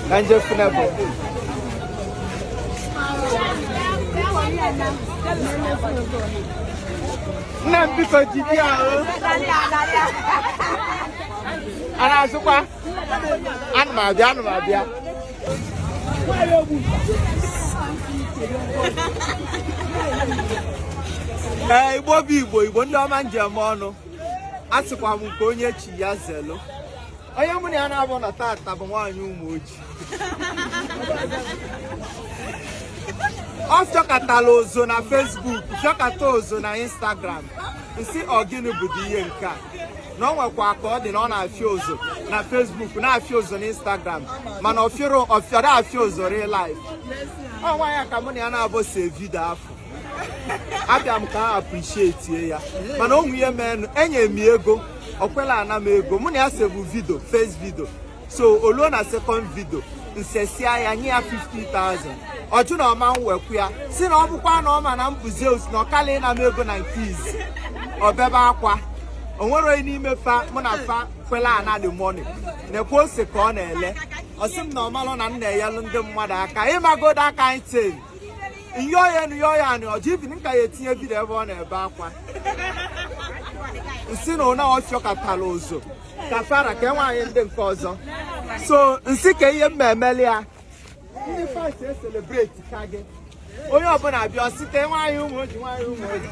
Bence fine boy. Nna m biko jide ya o. A na-azụkwa? Ana m abịa, ana m abịa. Ee, Igbo bụ Igbo, Igbo ndị ọma ndeme nụ. Asịkwa m nke onye chi ya zelu. onye mụ na ya naabọ nọ tata bụ nwaanyị Ụmụoji ọ fịọkatala ozo na Facebook fịọkata ozo na Instagram m sị ọ gịnị bụdị ihe nke a na ọ nwekwa ka ọ dị na ọ na-afịa ozo na Facebook na-afịa ozo na Instagram mana ọ fịọrọ ọ fịọrọ afịa ozo real life ọ nwa ya ka mụ na ya naabọ see vidio afụ abịa m ka m appreciate ya mana o nwe ihe meenụ enye m ego o kwela ana m ego mụ na ya sebu vidio first vidio so o luo na second vidio m sesịa ya nye ya 50,000 ọ jụ na ọ ma ewekwu ya sị na ọ bụkwa na ọ ma na mbụzi ọ sị na ọ kala ịna m ego na nke izi o bebe akwa o nwere onye n'ime fa mụ na fa kwela ana the money na-ekwe ose ka ọ na-ele ọ sị m na ọ malụ na m na-enyelụ ndị mmadụ aka ị magodo aka anyị tee nyoya nu yoya ni ọjọ ibi nka ya etinye vidio ebe ọ na-ebe akwa m sị na ụna ọ fịọkatara ozo ka fara ka nwaanyị ndị nke ọzọ so m sị ka ihe mma emeli ya ndị fans e celebrate ka gị onye ọbụla bịa site nwaanyị Ụmụoji nwaanyị Ụmụoji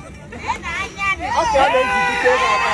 okay ọ na-ejidite ebe ọba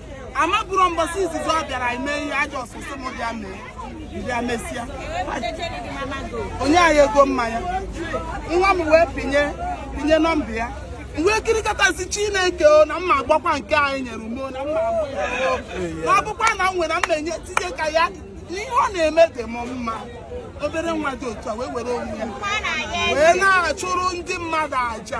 amabụrụ mbọsị izizi ọ bịara ime ihe ajọ ọsụsụ m bịa mee bịa mesịa o nye anyị ego mmanya nwa m wee pinye pinye nọmba ya mgbe ekirikọtazi Chineke o na mma agbakwa nke anyị nyere ume na mma agba ya na ọ bụkwa na m nwere m na-enye tinye ka ya ihe ọ na-eme dị m mma obere nwa dị otu a wee were onwe ya wee na-achụrụ ndị mmadụ aja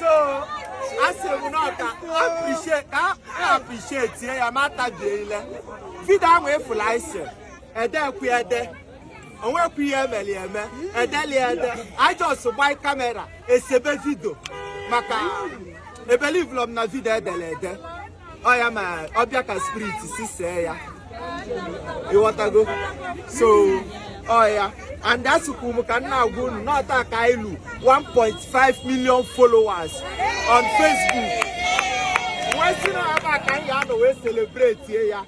so asị m na ọ ka appreciate ka a appreciate-ie ya ma tabie ile vidio ahụ efula anyị si edekwu ede o nwekwu ihe e meli eme e deli ede anyị just gbanye kamera esebe vidio maka e believe-lọ m na vidio e dere ede ọ ya ma ọ bịa ka spirit si see ya ị ghọtago so ọ ya and asịkwu m ka m na-agwa unu na ọ taa ka e lu 1.5 million followers on Facebook m wee sị na ebe a ka m ya-anọ wee celebrate ya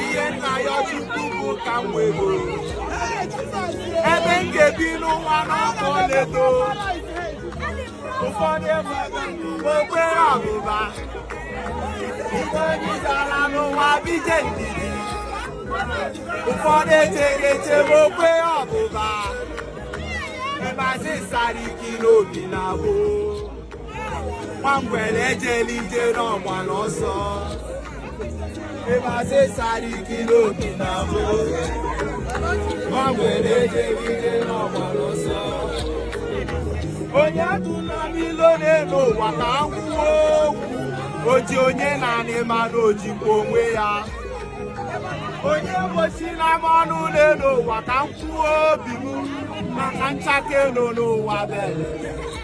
ihe m na-ayọ chukwu bụ ka m wee goro ebe m ga-ebi n'ụwa n'afọ na-eto ụfọdụ ebe okpere ọbụba ụfọdụ zara n'ụwa bije ndidi ụfọdụ echeghị eche ma okwe ọbụba ebe asị sara ike n'obi na gboo nwa ngwere ejela ije ọ gbara ọsọ ịbasị sara ike n'obi na abụ nwa ngwere ejela ije ọ gbara ọsọ onye atụla m ilo n'elu ụwa ka m kwuo okwu oji onye n'anị ma na o jikwa onwe ya onye egbochina m ọnụ n'elu ụwa ka m kwuo obi m maka nchake nọ n'ụwa bere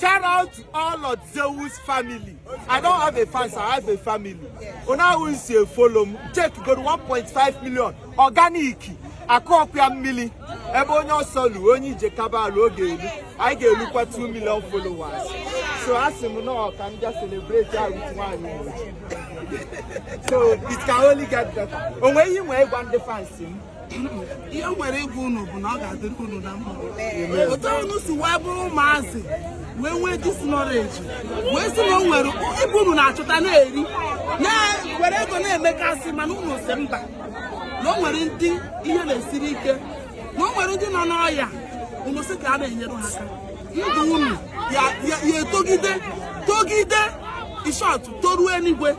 Shout out to all of Zeus family. I don't have a fans, I have a family. Una who is a follow m, check go to 1.5 million organic akọpịa mmiri ebe onye ọsọ lu onye ije ka ga-elu oge elu anyị ga-elukwa 2 million followers so asị m na ọ ka m bịa celebrate a with nwaanyị mgbochi. so it can only get better o nwere ihe m nwere ịgwa ndị fans m ihe m nwere ịgwa unu bụ na ọ ga-adịrị unu na mma otu unu si wee bụrụ ụmụazị wee nwee this knowledge wee sị na o nwere ibe unu na-achọta na-eri na-ewere ego na-emekasị mana unu sị mba na o nwere ndị ihe na-esiri ike na o nwere ndị nọ n'ọya unu sị ka a na-enyere ha aka ndụ unu ya-etogide togide in short toruo eluigwe